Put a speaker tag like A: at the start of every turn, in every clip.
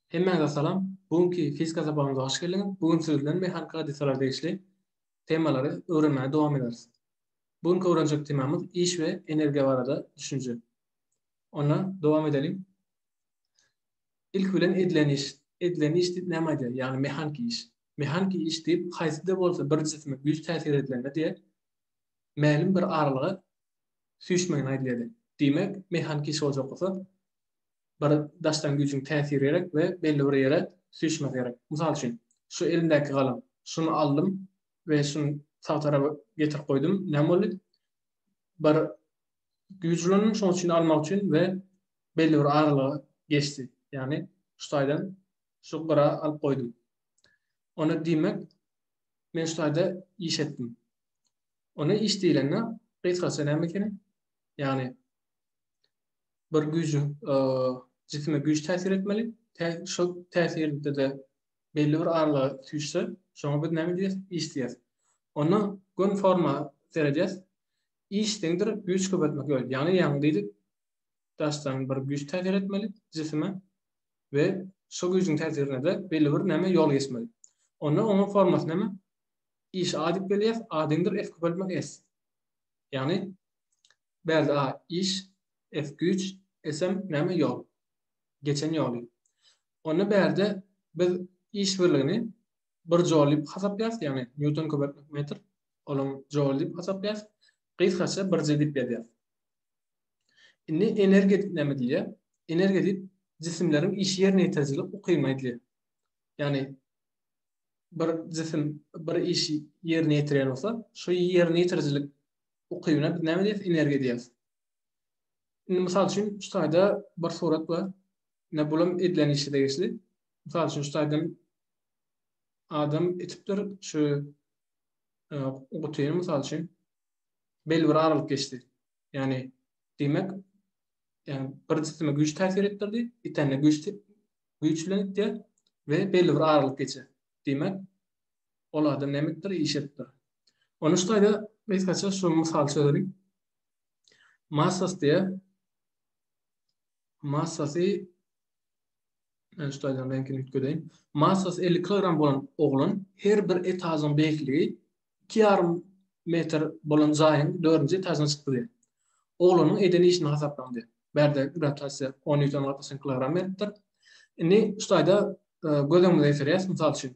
A: Hemmäňize salam! Bu günki fizika sapagymyza hoş geldiňiz! Bu gün siz bilen mehaniki hadysalara degişli temalary öwrenmäge dowam ederis. Bu günki öwrenjek temamyz iş we energiýa barada düşünje. Onda dowam edeliň. Ilki bilen edilen iş. Edilen iş diýip näme aýdýar? Ýagny mehaniki iş. Mehaniki iş diýip haýsy-da bolsa bir jisime güýç täsir edilende diýe mälim bir aralyga süýşmegine aýdylýar diýe. Diýmek, mehaniki iş boljak bolsa, bir daşdan güýjüň täsiri gerek we belli bir ýere süýşmesi gerek. Mysal üçin, şu elimdäki galam. Şuny aldym we şuny sag tarapa getirip goýdum. Näme boldy? Bir güýç ulandym şonuň üçin almak üçin we belli bir aralyga geçdi. Ýagny şu taýdan şu gyra alyp goýdum. Onda diýmek, men şu taýda iş etdim. Onda iş diýlende gysgaça näme ekeni? Ýagny bir güýjüň jisime güýç täsir etmeli. Şol täsirde-de belli bir aralyga süýşse, şoňa biz näme diýýäs? Iş diýýäs. Onda gün forma seredýäs. Iş deňdir güýç köpeltmek ýol. Ýagny ýaňy diýdik, daşdan bir güýç täsir etmeli jisime we şu güýjüň täsirinde-de belli bir näme ýol geçmeli. Onda onuň formasy näme? Iş A diýip belýär, A deňdir F köpeltmek S. Ýagny Bärde a iş, es güýç, esem näme ýol. Geçen ýoly. Onda bärde biz iş birligini bir joul diýip hasaplaýarys, ýagny nýuton köpeltmek metr, olam joul diýip hasaplaýarys, gysgaça bir J diýip ýazýarys. Indi energiýa diýip näme diýilýär? Energiýa diýip jisimleriň işi ýerine ýetirijilik ukybyna aýdylýar. Ýagny bir jisim bir işi ýerine ýetirýän bolsa, şo ýerine ýetirijilik ukybyna biz näme diýýäs? Energiýa diýýäs. Indi mysal üçin şu taýda bir surat bar. Ne bulam edilen işe degişli. Mysal üçin şu taýdan adam etipdir şu e, gutyny mysal üçin belli bir aralyk geçdi. Ýagny diýmek ýagny bir jisime güýç täsir etdirdi, itende güýç güýç bilen itýär we belli bir aralyk geçer. Diýmek, olarda nämekdir iş etdir. Ony şu taýda gysgaça şu mysal çözelik. Massas diýe massasy men şu taýdan reňkini üýtgedeýin. Massas 50 kilogram bolan oglan her bir etažyň beýikligi 2,5 metr bolan jaýyň 4-nji etažyna çykdy diýýär. Oglanyň eden işini hasaplaň diýýär. Bärde grawitasiýa 10 nýuton gatlaşan kilogram beripdir. Indi şu taýda e, göz öňümize getirýäs, mysal üçin,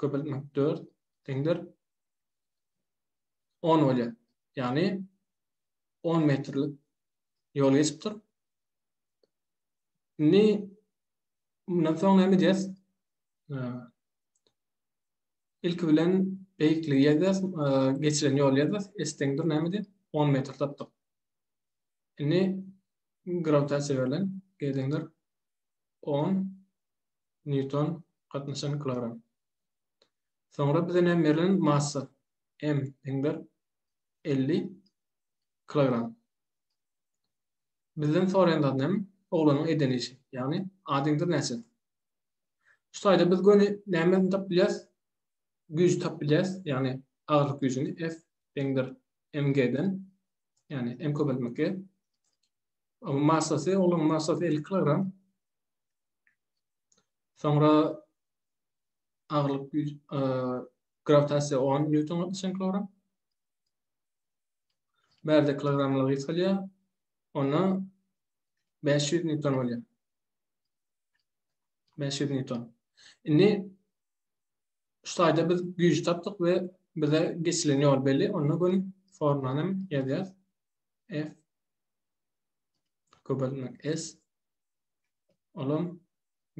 A: köpeltmek 4 deňdir 10 bolýar. Ýagny 10 metrlik ýol geçipdir. Indi mundan soň näme edýäs? Ilki bilen beýikligi ýazýas, geçilen ýoly ýazýas. S deňdir nämedi? 10 metr tapdyk. Indi grawitasiýa berlen, G deňdir 10 Nýuton, gatnaşan kilogram. Soňra bize näme berlen? Massa. M deňdir 50 kilogram. Bizden soraýan zat näme? Oglanyň eden işi. Ýagny A deňdir näçe? Şu taýda biz göni nämeni tapyp bilýäris? Güýji tapyp bilýäris. Ýagny agyrlyk güýjüni F deňdir mg-den. Ýagny m köpeltmek gerek. Massasy, oglanyň massasy 50 kilogram. Soňra agyrlyk güýç e, grawitasiýa 10 newton çenk ora. Bärde kilogramlar ýetilýär. Onda 500 newton bolýar. 500 newton. Indi şu taýda biz güýç tapdyk we bize geçilen ýol belli. Onda göni formulany hem ýazýarys. F köpeltmek S olam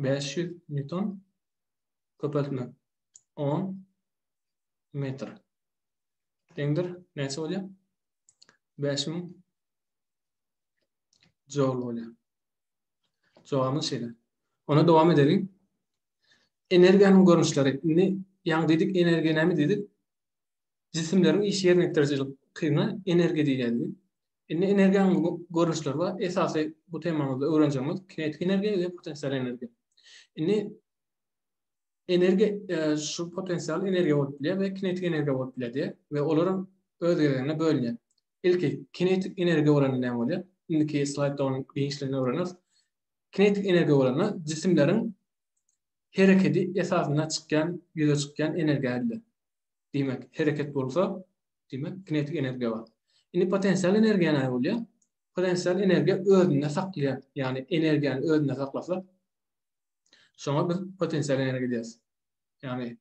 A: bäş ýüz nýuton köpeltme on metr deňdir näçe bolýar bäş müň joul bolýar jogabymyz şeýle Ona dowam edelim. Energiýanyň görnüşleri. Indi ýaňy diýdik energiýa näme diýdik? Jisimleriň iş ýerine ýetiriji kyna energiýa diýýär. Indi energiýanyň görnüşleri bar. Esasy bu temamyzda öwrenjegimiz kinetik energiýa we potensial energiýa. Indi energiýa e, şu potensial energiýa bolup bilýär we kinetik energiýa bolup bilýär diýär we olar öz gezeginde bölünýär. Ilki kinetik energiýa bolanda näme bolýar? Indiki slaýdda onuň giňişligini öwreneriz. Kinetik energiýa bolanda jisimleriň hereketi esasynda çykýan, ýüze çykýan energiýa edilir. Diýmek, hereket bolsa, diýmek, kinetik energiýa bar. Indi potensial energiýa näme bolýar? Potensial energiýa özünde saklaýar, ýagny energiýany özünde saklasa, şoňa biz potensial energiýa diýeris. Ýagny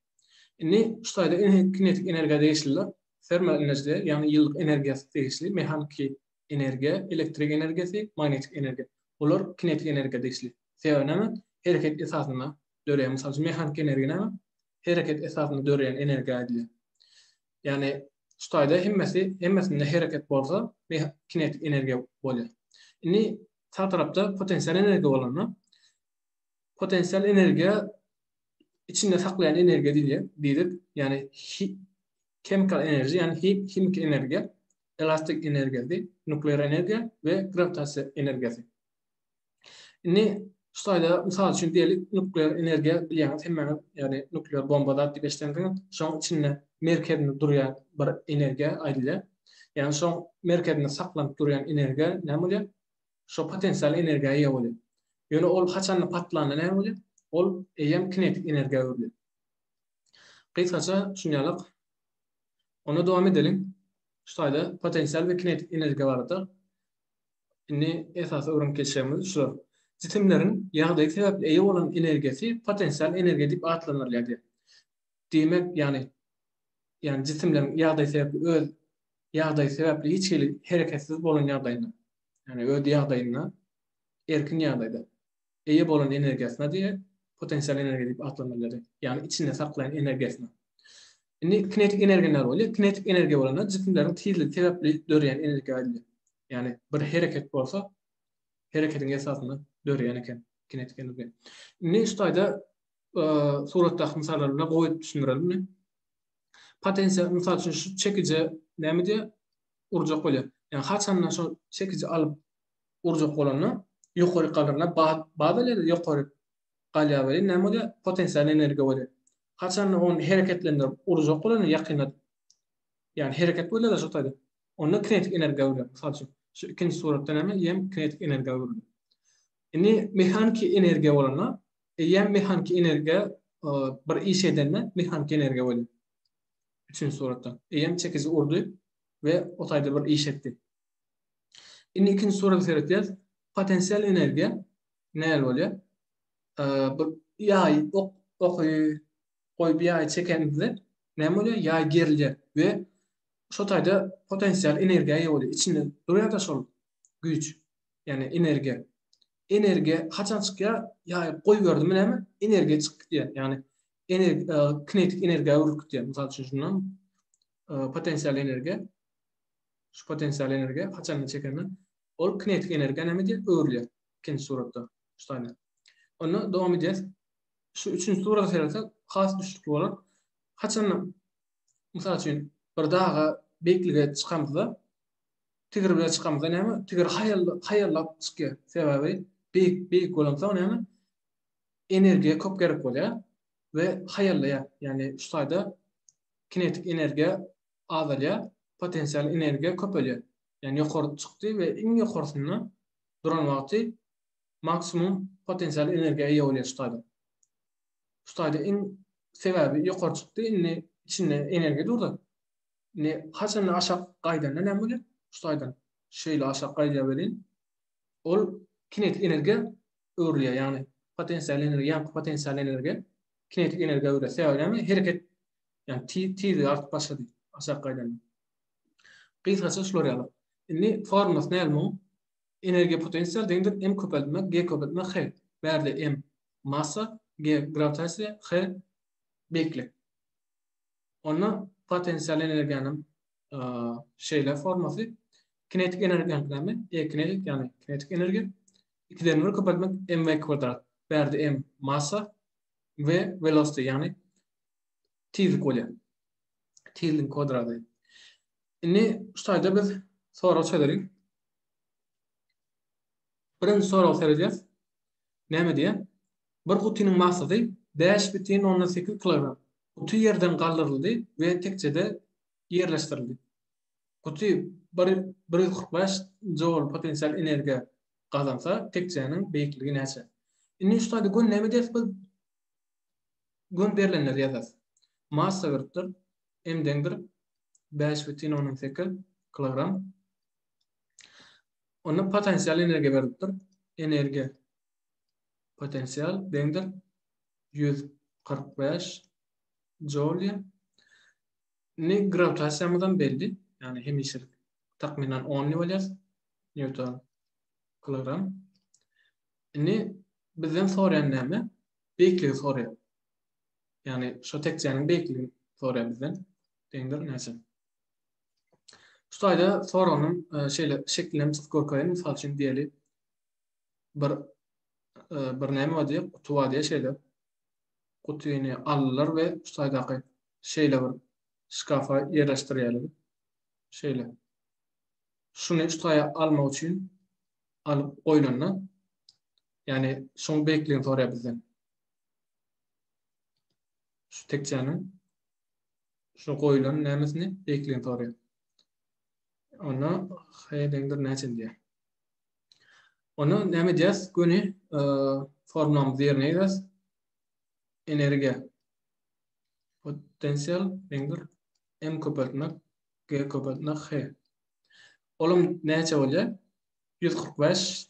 A: indi şu taýda kinetik energiýa degişliler, termal energiýa, ýagny ýyllyk energiýasy degişli, mehaniki energiýa, elektrik energiýasy, magnetik energiýa. Olar kinetik energiýa degişli. Sebäbi näme? Hereket esasynda döreýär. Mysal üçin, mehaniki energiýa näme? Hereket esasynda döreýän energiýa diýilýär. Ýagny şu taýda hemmesi hemmesinde hereket bolsa kinetik energiýa bolýar. Indi sag tarapda potensial energiýa bolanda potensial energiýa içinde saklaýan energiýa diýilýär. Diýdik, ýagny chemical energy, ýagny himiki energiýa, elastik energiýasy, nuklear energiýa we grawitasiýa energiýasy. Indi şu taýda mysal üçin diýeli nuklear energiýa bilýäňiz hemmäňiz ýagny nuklear bomba zat diýip eşidensiňiz. Şoň içinde merkezinde durýan bir energiýa aýdylýar. Ýagny şoň merkezinde saklanyp durýan energiýa näme bolýar? Şo potensial energiýa eýe bolýar. Ýöne ol haçanda patlanda näme bolýar? Ol eýýäm kinetik energiýa öwrülýär. Gysgaça şunýalyk. Onda dowam edeliň. Şu taýda potensial we kinetik energiýa barada Indi esasy öwrenip geçýämiz şu. Jisimleriň ýagdaýy sebäpli eýe bolan energiýasy potensial energiýa diýip atlandyrylýar diýýär. Diýmek, ýagny, ýagny jisimleriň ýagdaýy sebäpli öz ýagdaýy sebäpli hiç hili hereketsiz bolan ýagdaýynda, ýagny öz ýagdaýynda, erkin ýagdaýda. eýe bolan energiýasyna diýe potensial energiýa diýip atlandyrylýar. Ýagny içinde saklaýan energiýasyna. Indi kinetik energiýa näme bolýar? Kinetik energiýa bolanda jisimleriň tizligi sebäpli döreýän energiýa aýdylýar. Ýagny bir hereket bolsa, hereketiň esasynda döreýän eken kinetik energiýa. Indi şu taýda suratdaky mysallar bilen goýup düşündirelimmi? Potensial mysal üçin şu çekije näme diýýär? Urjak bolýar. Ýagny haçanda şu çekiji alyp urjak bolanda ýokaryk galdyryna baza led ýokaryk galýar welin näme bolýar potensial energiýa bolýar. Haçanda ony hereketlendirip urjak bolanda ýakynladyp ýagny hereket bolýada şo taýda onda kinetik energiýa öwrülýär. Mysal üçin şu ikinji suratda näme ýem kinetik energiýa öwrüldi. Indi mehaniki energiýa bolanda ýem mehaniki energiýa bir iş edende mehaniki energiýa bolýar. Üçünji suratda ýem çekiji urdy we o taýda bir iş etdi. Indi ikinji surata seretýäs. Potensial energiýa näl bolýar? Bu ýaý ok oky goýup ýaý çekenimizde näme bolýar? Ýaý gerilýär we şo taýda potensial energiýa ýa bolýar. Içinde durýar-da şol güýç, ýagny energiýa. Energiýa haçan çykýar? Ýaý goýberdimi näme? Energiýa çykyp gidýär. Ýagny energiýa kinetik energiýa öwrülip gidýär. Mysal üçin şundan potensial energiýa şu potensial energiýa haçanda çekende ol kinetik energiýa näme diýip öwrülýär ikinji suratda şu taýda. Onda dowam edýäs. Şu üçünji surata seretsak has düşnükli bolar. Haçanda mysal üçin bir daga beýiklige çykamyzda tigir bilen çykamyzda näme tigir haýallap çykýar. Sebäbi beýik beýik bolansoň näme energiýa köp gerek bolýar we haýallaýar. Ýagny şu taýda kinetik energiýa azalýar, potensial energiýa köpelýär. Ýagny ýokary çykdy we iň ýokarsynda duran wagty maksimum potensial energiýa eýe bolýar şu taýda. Şu taýda iň sebäbi ýokary çykdy indi içinde energiýa durdy. Indi haçanda aşak gaýdanda näme bolýar? Şu taýdan şeýle aşak gaýdýar welin ol kinetik energiýa öwrülýär ýagny potensial energiýa ýaňky potensial energiýa kinetik energiýa öwrülýär. Sebäbi näme? Hereket Yani tiz tiz art başa diýip aşak gaýdan. Gysgaça şular ýaly. Indi formasy näme bu? Energiýa potensial deňdir m köpeltme g köpeltme h. Bärde m massa, g grawitasiýa, h beýiklik. Onda potensial energiýanyň e, şeýle formasy kinetik energiýanyň näme? E kinetik ýagny kinetik energiýa 2-den 1 köpeltmek mv kwadrat. Bärde m massa v velosity ýagny tizlik bolýar. Tizligiň kwadrady. Indi şu taýda biz sorag çözerin. Birinji sorag seredýäs. Näme diýýär? Bir gutynyň massasy 5,8 kilogram. Guty ýerden galdyryldy we tekjede ýerleşdirildi. Guty 145 joul potensial energiýa gazansa, tekjäniň beýikligi näçe? Indi şu taýda gönüden näme edýäris biz? Göni berlenleri ýazas. Massa gyrkdyr, M deňdir bäş bütin ondan sekiz kilogram. Onda potensial energiýa berilipdir. Energiýa potensial deňdir ýüz kyrk bäş joulýa. Indi grawitasiýamyzam belli. Ýagny hemişelik takmynan on diýip alýarys. Newton kilogram. Indi bizden soraýan näme? beýikligi soraýar. Ýagny şo tekjäniň beýikligini soraýar bizden. Deňdir näçe? Şu taýda soranyň e, şeýle şeklini hem çyzyp görkezeýin. Mysal üçin diýeli bir e, bir näme bar diýip, guty bar diýip şeýle. Gutyny aldylar we şu taýdaky şeýle bir şkafa ýerleşdirýärler. Şeýle. Şuny şu taýa almak üçin alyp goýlanda Yani şoň beýikligini soraýar bizden. Şu tekjäniň şu goýulan nämesini beýikligini soraýar. Onda heýdengdir näçe diýär. Onda näme edýäs? Göni e, formamyzy ýerine ýetiräs. Energiýa potensial deňdir m köpeltmek g köpeltmek h. Olam näçe bolýar? 145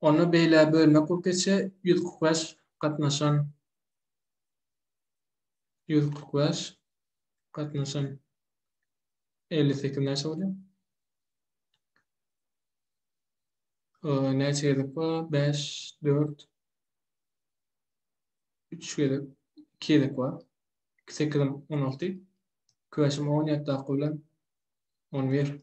A: Onda beýle bölme kökeçe ýüz kyrk bäş gatnaşan ýüz kyrk bäş gatnaşan elli sekiz näçe bolýar? Näçe gezek bar? Bäş, dört, üç gezek, iki gezek bar. İki sekizim on alty. Köşüm on ýetdi akyldan. On bir.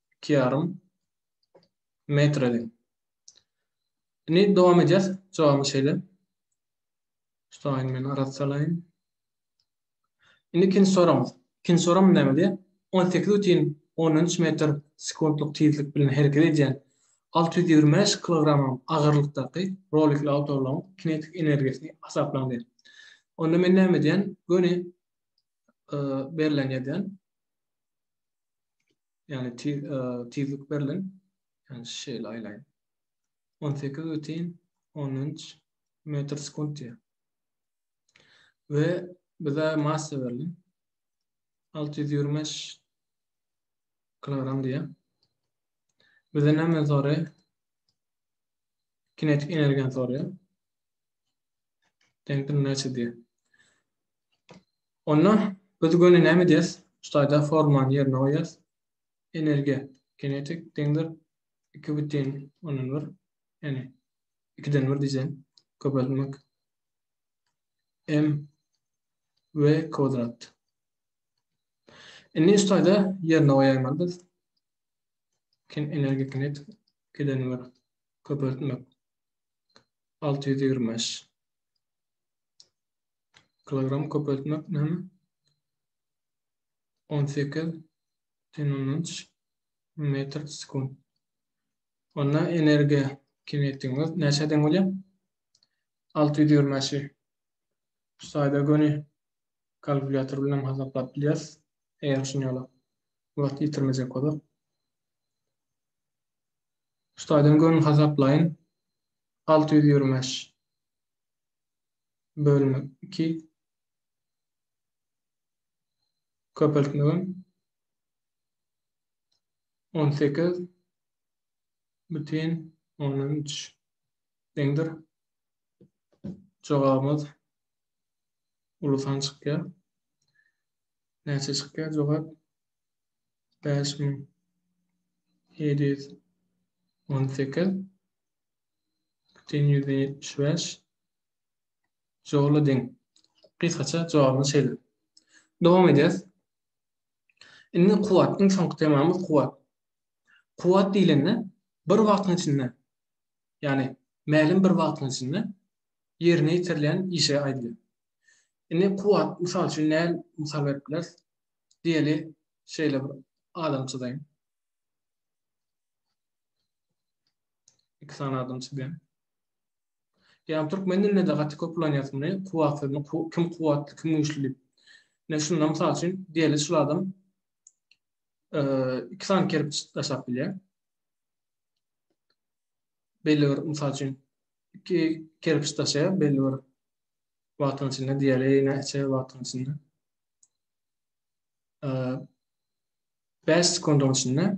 A: iki yarym metr edin. Indi dowam edýäs. Jogabyny şeýle. Şuny men arat salaýyn. Indi ikinji soramyz. Ikinji soram näme diýýär? 18,13 metr sekuntlyk tizlik bilen hereket edýän 625 kilogram agyrlykdaky rolikli awtoulagyň kinetik energiýasyny hasaplaň diýýär. Onda men näme edýän? Göni e, berlen ýazýan. Yani tiz, e, tizlik berlin. Yani şeýle aýlaýyn. 18 butin 13 metr sekund diýär. We bize massa berlin. 625 kilogram diýär. Bize näme soraýar? Kinetik energiýany soraýar. Deňdir näçe diýär. Onda biz göni näme edýäs? Ştaýda formany ýerine goýýas. Energiýa kinetik deňdir iki bütin ondan bir, ýagny ikiden bir diýseň köpeltmek m v kwadrat. Indi ştaýda ýerine goýaýmaly biz. Kin energiýa kinetik ikiden bir köpeltmek alty ýüz ýigrimi bäş. Kilogram köpeltmek näme? 18 tenonunç metr sekund. Onda energiýa kinetikimiz näçe deň bolýar? 625. Şu saýda göni kalkulýator bilen hasaplap bilýäris. Eger şuny ýola wagt ýitirmejek bolsak. Şu saýdan göni hasaplaýyn. 625. bölmek iki köpeltmegem on sekiz bütin on üç deňdir jogabymyz uly san çykýar näçe çykýar jogap bäş müň ýedi ýüz on sekiz Bütin ýüzi ýetmiş bäş. Joly deň. Gysgaça jogabyny şeýle. Dowam edýäs. Indi kuwwat, iň soňky temamyz kuwwat. Kuwwat diýlende bir wagtyň içinde, ýagny mälim bir wagtyň içinde ýerine ýetirilýän işe aýdylýar. Indi kuwwat, mysal üçin, näl mysal berip bileris? Diýeli, şeýle bir adam çyzaýyn. Iki sany adam çyzýan. Ýa türkmen dilinde de gaty köp ulanýas muny, kuwwat sözüni kim kuwwatly, kim güýçli diýip. Ne şunda mysal üçin diýeli şu adam iki sany kerpiç daşap bilýär. Belli bir mysal üçin iki kerpiç daşaýar belli bir wagtyň içinde diýeli ýene içe wagtyň içinde. 5 sekundyň içinde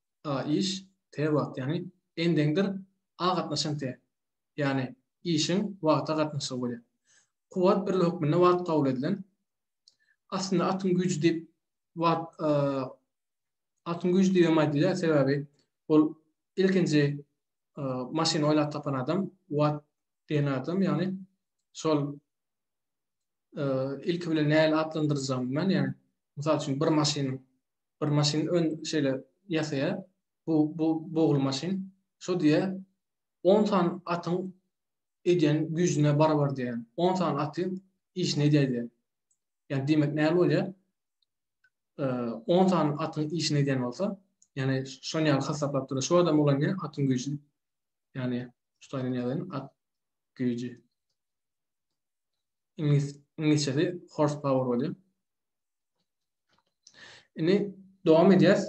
A: a iş t wagt ýagny endeňdir a gatnaşan t ýagny işiň wagta gatnaşygy bolýar. Kuwwat birligi hökmünde wagt kabul edilen. Aslynda atyň güýji diýip wagt atyň güýji diýip hem aýdylýar sebäbi ol ilkinji maşyny oýlap tapan adam wagt diýen adam ýagny şol ilki bilen nähili atlandyrjagym men ýagny mysal üçin bir maşynyň bir maşyn ön şeýle ýasaýa. Bu bu bogul maşyn. Şo diýä 10 san atyň edýän güýjüne barabar diýä. 10 san aty işini edýär diýä. Ýa diýmek näme bolýa? 10 san atyň işini edýän bolsa, ýani şony ýaly hasaplap durýa. Şo adam bolan ýa atyň güýji. Ýani şuny ýaly at güýji. Iňlis iňlisçesi horse power bolýa. Indi dowam edýäs.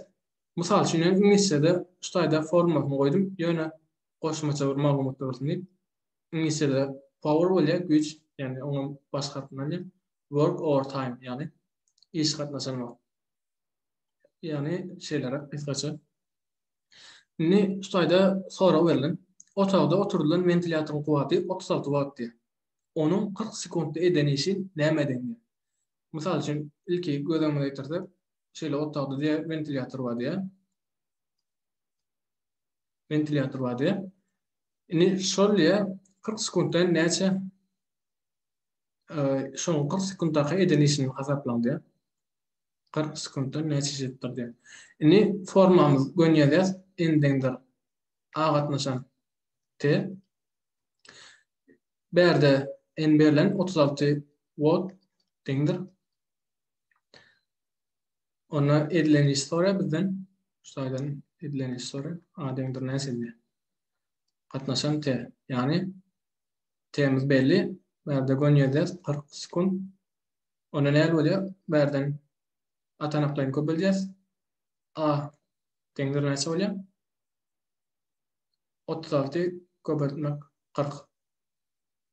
A: Mysal üçin, men iňlisçede şu taýda formasyny goýdum, ýöne goşmaça bir maglumat bolsun diýip. Iňlisçede power bolýar, güýç, ýagny oňam baş harpyny alýar. Work overtime, ýagny iş gatnaşan wagt. Ýagny şeýle gysgaça. Indi şu taýda sorag berlen. Otagda oturdylan wentilýatoryň kuwwaty 36 watt diýýär. Onuň 40 sekuntda eden işi näme edeňdir? Mysal üçin, ilki göz öňüne getirsek, şeýle otagda diýe wentilýator bar diýe. Wentilýator bar diýe. Indi şol diýe 40 sekuntdan näçe şoň 40 sekundaky eden işini hasaplaň diýe. 40 sekuntdan näçe iş etdir diýe. Indi formamyz gön ýazýas, endiňdir A gatnaşan T. Bärde n berlen otuz alty watt deňdir. Onda edilen iş sorar bizden. Şu saydan edilen iş sorar. A deňdir näsinde. Katnaşan T. Yani T'miz belli. Bärde gön yerde 40 sekund. Onda ne bolýar? Bärden atanaklaryny köpeldýäs. A deňdir näçe bolýar? otuz alty köpeltmek kyrk.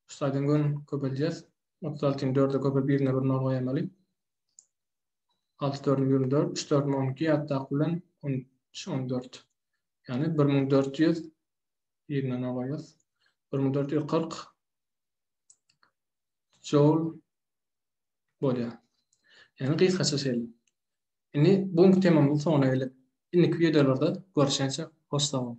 A: Şu saýdan göni köpeldýäs. Otuz altyny dörde köpelip birine bir nol goýamaly. Alty dördüm ýigrimi dört, üç dördüm on iki ýatdaky bilen on üç on dört. Ýagny bir müň dört ýüz birine nol goýýas. Bir müň dört ýüz kyrk joul bolýar. Ýagny gysgaça şeýle. Indi bu günki temamyzyň soňuna geldik. Indiki wideolarda görüşençe hoş sag boluň.